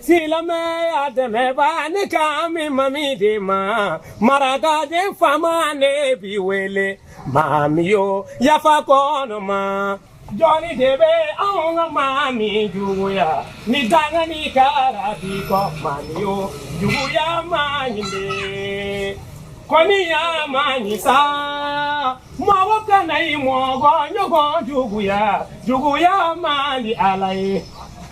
silamɛya dɛmɛba ne kan bi mami de ma maraka den faama ne b'i wele mami yo yafa kɔnɔ ma jɔni de bɛ anw ka mami juguya ni danga ni kara t'i kɔ mami yo juguya man ɲi dɛ koniya man ɲi sa mɔgɔ kana i mɔgɔ ɲɔgɔn juguya juguya man di ala ye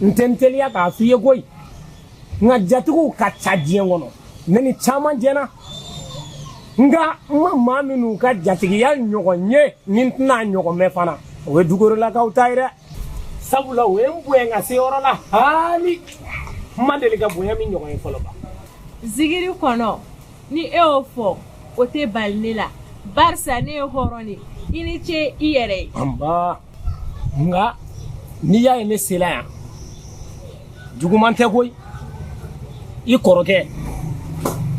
n tɛ n teliya k'a f'i ye koyi nka jatigiw ka ca diɲɛ kɔnɔ ne ni caman jɛna nka n ma maa minnu ka jatigiya ɲɔgɔn ye ni n tɛn'a ɲɔgɔn mɛn fana o ye dukurelakaw ta ye dɛ sabula o ye n bonya ka se yɔrɔ la hali n ma deli ka bonya min ɲɔgɔn ye fɔlɔ ba zigiri kɔnɔ ni e y'o fɔ o tɛ bali ne la barisa ne ye hɔrɔn de i ni ce i yɛrɛ ye nba nka n'i y'a ye ne sela yan juguman tɛ koyi i kɔrɔkɛ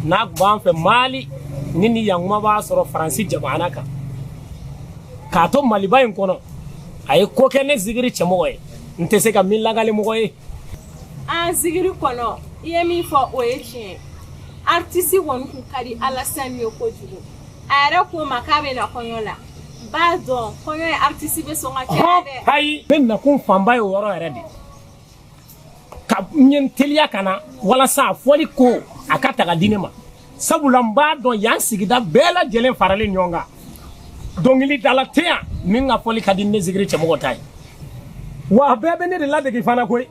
n'a tun b'an fɛ mali ni ni yan kuma b'a sɔrɔ faransi jamana kan k'a to maliba in kɔnɔ a ye ko kɛ ne zigiri cɛmɔgɔ ye n tɛ se ka min lakali mɔgɔ ye a zigiri kɔnɔ i ye min fɔ o ye tiɲɛ artisi kɔni kun ka di alasani ye kojugu a yɛrɛ ko n ma k'a bɛ na kɔɲɔ la b'a dɔn kɔɲɔ ye artisi bɛ sɔn ka kɛ dɛ ayi ne nakun fanba ye o yɔrɔ yɛrɛ de ka n ye n teliya ka na walasa a fɔli ko a ka taga di ne ma sabula n b'a dɔn yan sigida bɛɛ lajɛlen faralen ɲɔgɔn kan dɔnkilidala tɛ yan min ka fɔli ka di ne zigiri cɛmɔgɔ ta ye wa bɛɛ bɛ ne de ladege fana koyi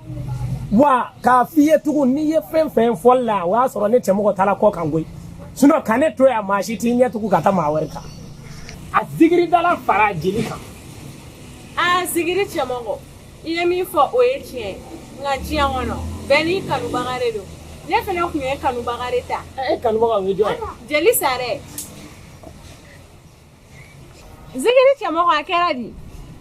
wa k'a f'i ye tugun n'i ye fɛn fɛn fɔli la o y'a sɔrɔ ne cɛmɔgɔ taara kɔkan koyi sinɔn ka ne to yan maa si t'i ɲɛ tugun ka taa maa wɛrɛ kan a zigiridala fara jeli kan a zigiri cɛmɔgɔ i ye min fɔ o ye tiɲɛ ye nka diɲɛ kɔnɔ bɛɛ n'i kanubaga de don ne fana tun ye kanubaga de ta e kanubaga o ye jɔn ye jeli sare zikiri cɛmɔgɔ a kɛra di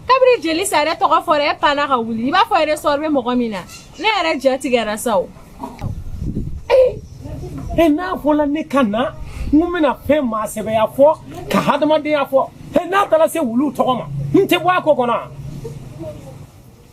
kabiri jeli sare tɔgɔ fɔra e panna ka wuli i b'a fɔ resɔrɔ bɛ mɔgɔ min na ne yɛrɛ ja tigɛra sa o e n'a fɔla ne ka na n ko n bɛna fɛn maasɛbɛya fɔ ka hadamadenya fɔ e n'a taara se wuluw tɔgɔ ma n tɛ bɔ a ko kɔnɔ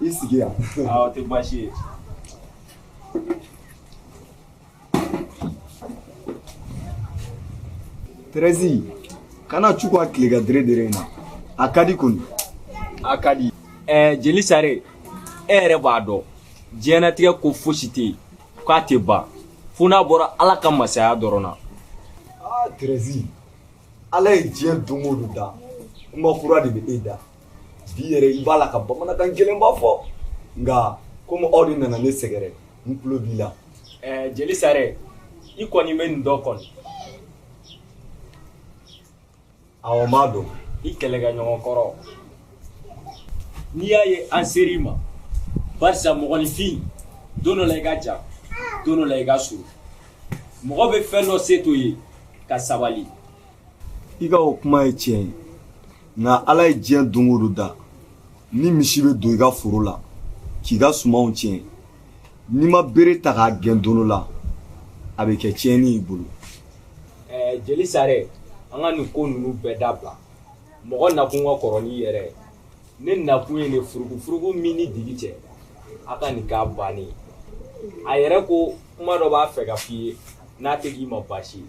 i sigi yan a o tɛ baasi ye terɛzi kana cun ka kule ka dɛrɛ dɛrɛ n na a ka di kɔni a ka di ɛɛ jeli sare e yɛrɛ b'a dɔn diɲɛnatigɛ ko fosi tɛ yen k'a tɛ ban fo n'a bɔra ala ka masaya dɔrɔn na aa terɛzi ala ye diɲɛ don o don da kuma kura de bɛ e da bi yɛrɛ i b'a la ka bamanankan gɛlɛnba fɔ nka komi aw de nana ne sɛgɛrɛ n tulo b'i la ɛɛ jeli sare i kɔni bɛ n dɔn kɔni awa n ma don i kɛlɛkɛɲɔgɔn kɔrɔ n'i y'a ye an ser'i ma barisa mɔgɔninfin don dɔ la i ka jan don dɔ la i ka surun mɔgɔ bɛ fɛn dɔ se to ye ka sabali i ka o kuma ye tiɲɛ ye nka ala ye diɲɛ don o don da ni misi bɛ don i ka foro la k'i ka sumanw tiɲɛ n'i ma bere ta k'a gɛn don dɔ la a bɛ kɛ tiɲɛni y'i bolo ɛɛ jeli sare an ka nin ko ninnu bɛɛ dabila mɔgɔ nakun ka kɔrɔ n'i yɛrɛ ye ne nakun ye nin furukufuruku min ni digi cɛ a ka ɲi k'a bannen ye a yɛrɛ ko kuma dɔ b'a fɛ ka f'i ye n'a tɛ k'i ma baasi ye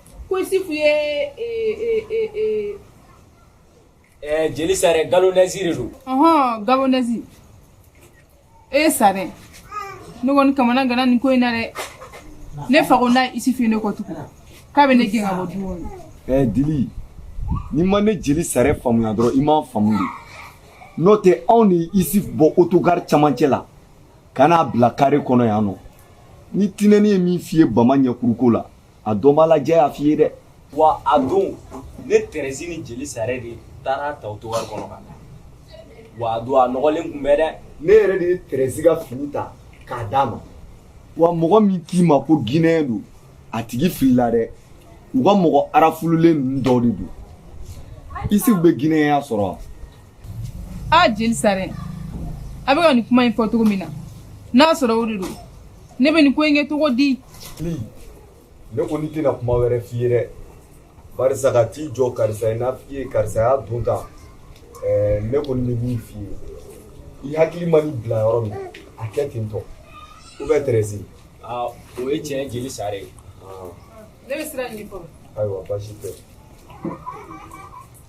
ko isufu ye jeli sare galonɛsi de don ɔhɔn galonɛsi ɛɛ jeli sare ne kɔni kamanaganna nin ko in na dɛ ne fa ko n'a ye isufu ye ne kɔ tugun k'a bɛ ne gɛn ka bɔ du kɔnɔ ɛɛ dili n'i ma ne jeli sare faamuya dɔrɔn i m'a faamu de n'o tɛ anw ni isufu bɔ otogari camancɛ la ka n'a bila kare kɔnɔ yan nɔ ni tinɛni ye min f'i ye bama ɲɛkuruko la a dɔnbaa lajɛ y'a f'i ye dɛ wa a don ne tɛrɛsi ni jeli sare de taara ta otogari kɔnɔ ka wa a don a nɔgɔlen tun bɛ dɛ ne yɛrɛ de ye tɛrɛsi ka fini ta k'a d'a ma wa mɔgɔ min k'i ma ko ginɛyɛn don a tigi filila dɛ u ka mɔgɔ arafululen ninnu dɔw de don isufu bɛ ginɛyɛnya sɔrɔ wa a jeli sare a bɛ ka nin kuma in fɔ cogo min na n'a sɔrɔ o de don ne bɛ nin ko in kɛ cogo di ne kɔni tɛna kuma wɛrɛ f'i ye dɛ barisa ka t'i jɔ karisa ye n'a f'i ye karisa y'a don tan eh, ne kɔni bɛ min f'i ye i hakili man'i bila yɔrɔ min a kɛ ten tɔ ou bien tɛrɛsi ah, o ye tiɲɛ jeli sare ye ah. ne bɛ siran nin kɔrɔ ayiwa baasi tɛ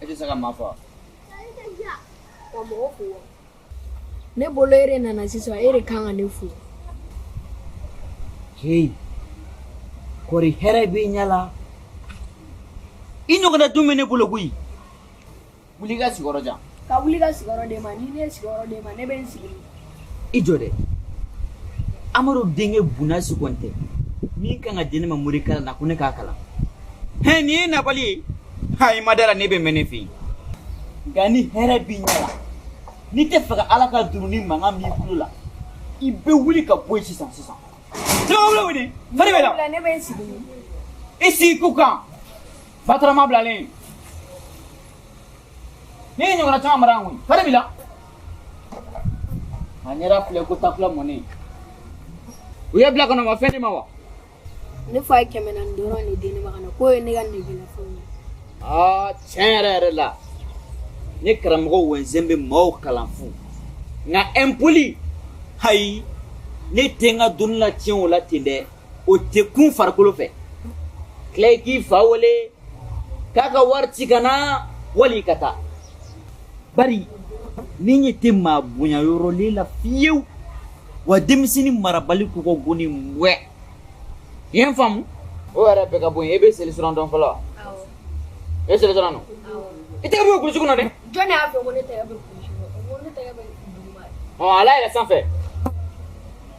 E tɛ se ka maa fo ne bolo e de nana sisan e de kan ka ne fo heyi kɔri hɛrɛ b'i ɲɛ la i ɲɔgɔnna dun bɛ ne bolo koyi wuli ka sigiyɔrɔ jan ka wuli ka sigiyɔrɔ d'e ma ni ne ye sigiyɔrɔ d'e ma ne bɛ n sigi i jɔ dɛ amadu denkɛ bunasi kɔntɛ min kan ka di ne ma morikalan na ko ne k'a kalan hɛn nin ye nabali ye ha i ma da la ne bɛ mɛn ne fɛ yen nka ni hɛrɛ b'i ɲɛ la n'i tɛ fɛ ka ala ka duruni mankan b'i kulo la i bɛ wuli ka bɔ yen sisan sisan jama wuli wuli fari bɛ la i sigi ko kan Batarama bilalen ne y'i ɲɔgɔnna caman mara yan koyi fari b'i la a ɲɛda filɛ ko takula mɔnen u y'i bila ka na u ma fɛn d'i ma wa ne fa ye kɛmɛ naani dɔrɔn de di ne ma ka na k'o ye ne ka negelafɛnw ye aa tiɲɛ yɛrɛ yɛrɛ la ne karamɔgɔ wɛnsɛn bɛ maaw kalan fu nka impoli ayi ne tɛ n ka dɔnni latiɲɛ o la ten dɛ o tɛ kun farikolo fɛ tila i k'i fa wele k'a ka wari ci ka na wali ka taa bari ne ɲɛ tɛ maa bonya yɔrɔlen la fiyewu wa denmisɛnnin marabali kɔkɔ goni wɛ i ye n faamu o yɛrɛ bɛɛ ka bɔ yen e bɛ seli sira dɔn fɔlɔ wa e seli sira dɔn i tɛgɛ bɔ kulusi kunna dɛ jɔn de y'a fɔ ko ne tɛgɛ bɛ kulusi kunna ko ne tɛgɛ bɛ duguma ɔ ala yɛrɛ sanfɛ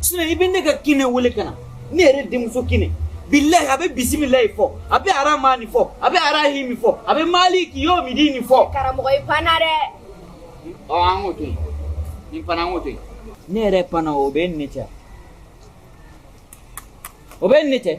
sinon i bɛ ne ka kine wele ka na ne yɛrɛ denmuso kine bilahi a bɛ bisimilayi fɔ a bɛ aramani fɔ a bɛ arahimi fɔ a bɛ maliki yomidini fɔ karamɔgɔ i panna dɛ ɔ an k'o to yen nin panna an k'o to yen ne yɛrɛ panna o bɛ ne cɛ o bɛ ne cɛ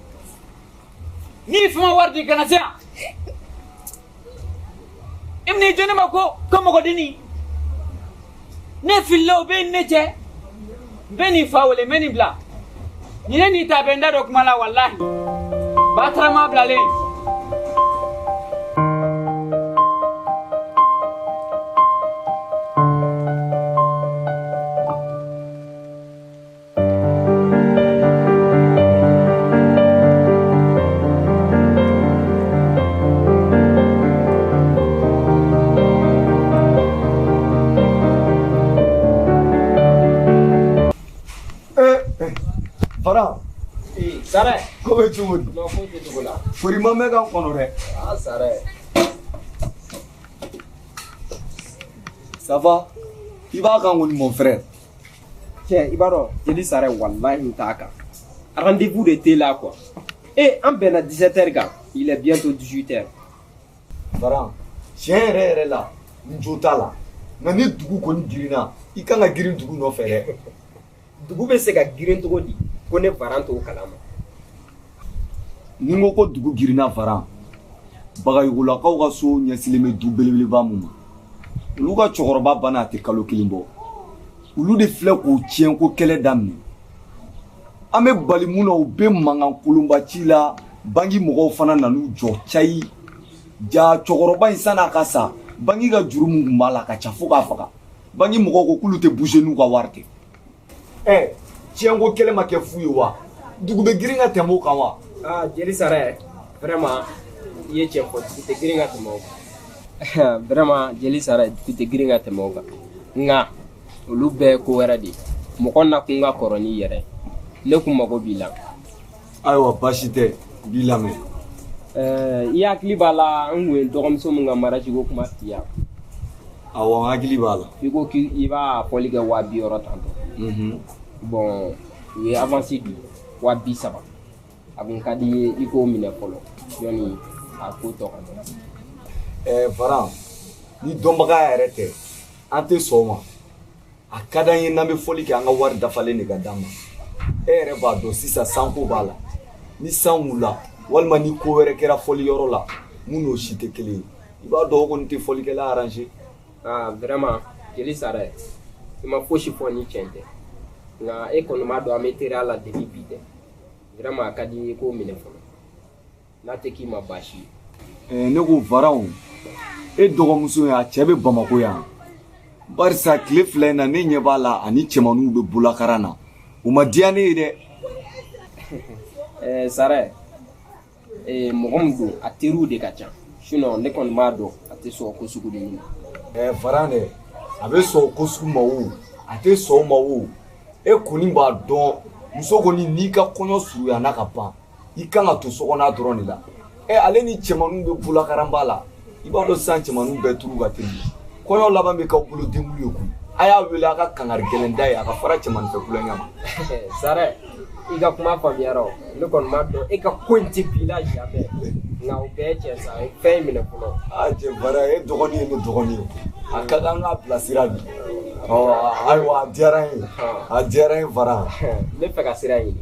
n'i fa ma wari di i kana se yan i bɛna i jɔ ne ma ko ko mɔgɔdennin ne filila o bɛ ne cɛ n bɛ nin fa wele n bɛ nin bila nin ne n'i ta bɛ n da don kuma la walahi batarama bilalen Fara sare ko bɛ cogo di foli ma mɛn kan kɔnɔ dɛ sare ça va i b'a kan kɔni mon frère cɛ i b'a dɔn jeli sare walahi n t'a kan rendez-vous de t'e la quoi e an bɛnna 17 heures kan il est bientôt 18 heures baran tiɲɛ yɛrɛ yɛrɛ la n jo t'a la nka ni dugu kɔni girinna i kan ka girin dugu nɔfɛ dɛ dugu bɛ se ka girin cogo di ko ne baran t'o kalama ni n ko ko dugu girinna varan bagayogolakaw ka so ɲɛsilen bɛ du belebeleba mun ma olu ka cɛkɔrɔba banna a tɛ kalo kelen bɔ olu de filɛ k'o tiɲɛ ko kɛlɛ daminɛ an bɛ bali mun na u bɛ mankan kolonba ci la banki mɔgɔw fana nan'u jɔ cayi ja cɛkɔrɔba in san'a ka sa banki ka juru mun tun b'a la ka ca fo k'a faga banki mɔgɔw ko k'olu tɛ bouger n'u ka wari tɛ ɛ eh, tiɲɛko kɛlɛ ma kɛ fu ye wa dugu bɛ girin ka tɛmɛ o kan wa aa ah, jeli sarɛ vraiment i ye tiɲɛ fɔ dugu tɛ girin ka tɛmɛ o kan vraiment jeli sarɛ dugu tɛ girin ka tɛmɛ o kan nka olu bɛɛ ye ko wɛrɛ de ye mɔgɔ nakun ka kɔrɔ n'i yɛrɛ ye ne kun mago b'i la ayiwa baasi tɛ n b'i lamɛn eh, i hakili b'a la n kun ye dɔgɔmuso min ka mariage ko kuma f'i ye awɔ n hakili b'a la i ko k'i b'a fɔli kɛ waa bi wɔɔrɔ tantɔ mhm. bon u ye avance di waa bi saba a kun ka di n ye i k'o minɛ fɔlɔ yanni a ko tɔ ka dɔn varan ni dɔnbaga yɛrɛ tɛ an tɛ sɔn o ma a ka d'an ye n'an bɛ fɔli kɛ an ka wari dafalen de ka d'an ma e yɛrɛ b'a dɔn sisan san ko b'a la ni san wulila walima ni ko wɛrɛ kɛra fɔli yɔrɔ la mun n'o si tɛ kelen ye i b'a dɔn o kɔni tɛ fɔlikɛla arranger ah vraiment jeli sarɛ i ma fosi fɔ ni tiɲɛ tɛ nka e kɔni b'a dɔn an bɛ teriya la depuis bi tɛ vraiment a ka di n ye i k'o minɛ fɔlɔ n'a tɛ k'i ma baasi ye ne ko varan e dɔgɔmuso ye a cɛ bɛ bamako yan barisa tile fila in na ne ɲɛ b'a la ani cɛmanninw bɛ bolakaran na o ma diya ne ye dɛ ɛɛ sarɛ ee mɔgɔ min don a teriw de ka ca sinon ne kɔni b'a dɔn a tɛ sɔn ko sugu ninnu ma ɛɛ varan dɛ a bɛ sɔn ko sugu ma o a tɛ sɔn o ma o e kɔni b'a dɔn muso kɔni n'i ka kɔɲɔ surunyana ka ban i kan ka to sokɔnɔ dɔrɔn de la ɛ ale ni cɛmanninw bɛ bolakaranba la i b'a dɔn sisan cɛmanninw bɛɛ turu ka teli kɔɲɔ laban bɛ k'aw bolo denkundi ye koyi a y'a wele a ka kangari gɛlɛn d'a ye a ka fara cɛmannin fɛ kulonkɛ ma sarɛ i ka kuma faamuyara o ne kɔni b'a dɔn e ka ko in tɛ bi la jamais nka o bɛɛ cɛ sa ye fɛn in minɛ fɔlɔ a cɛ varan e dɔgɔnin ye ne dɔgɔnin ye a ka kan k'a bilasira bi ɔ ayiwa a diyara n ye a diyara n ye varan ne fɛ ka sira ɲini